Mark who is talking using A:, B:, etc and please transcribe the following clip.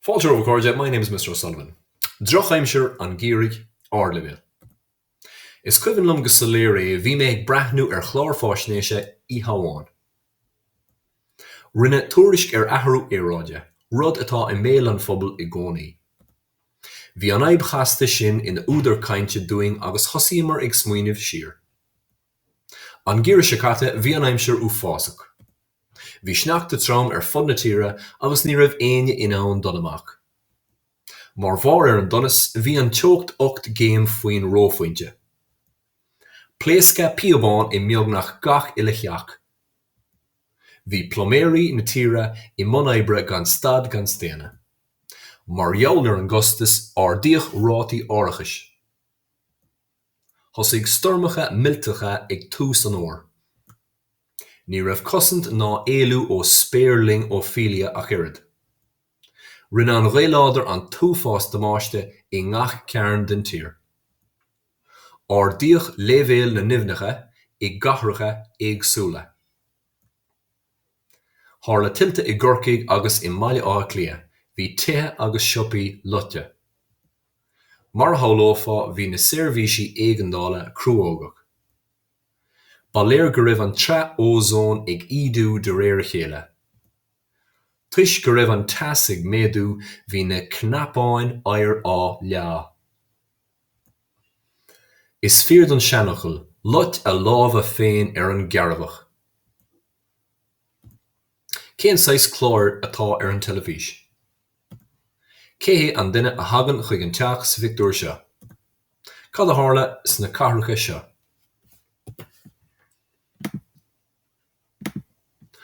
A: Fáilte romhat a chairde, my name is Mr. O'Sullivan. Drochaimsir an gheimhridh, ardleibhéal. Is cuimhin liom go soiléir é, bhí mé ag breathnú ar chlár faisnéise oíche amháin. Rinneadh tuairisc ar athrú aeráide, rud atá i mbéal an phobail i gcónaí. Bhí an fhadhb chasta sin ina údar cainte dúinn agus thosaíomar ag smaoineamh siar. An geimhreadh seo caite, bhí an aimsir uafásach. Bhí sneachta trom ar fud na tíre agus ní raibh éinne in ann dul amach. Mar bharr ar an donas, bhí an teocht ocht gcéim faoin reophointe. Pléascadh píobán i mbeagnach gach uile theach. Bhí pluiméirí na tíre i mbun oibre gan stad gan staonadh. Mar gheall ar an gcostas, ardaíodh rátaí árachais. Thosaigh stoirmeacha millteacha ag tús an fhómhair. Ní raibh cosaint ná éalú ó spéirling Ophelia ach oiread. Rinne an ghaoth láidir an t-uafás damáiste i ngach cearn den tír. Ardaíodh leibhéal na n-aibhneacha i gcathracha éagsúla. Tharla tuilte i gCorcaigh agus i mBaile Átha Cliath. Bhí tithe agus siopaí loite. Mar a shamhlófá bhí na seirbhísí éigeandála cruógach. Ba léir go raibh an tsraith ózóin ag ídiú de réir a chéile. Toisc go raibh an teas ag méadú bhí na cnapáin oighir á leá. Is fíor don seanfhocal, 'Luigh a lámha féin ar an gcearrbhach'. Cén saghas clár atá ar an teilifís? Cé hé an duine a thagann chuig an teach sa phictiúr seo? Cad a tharla sna cathracha seo?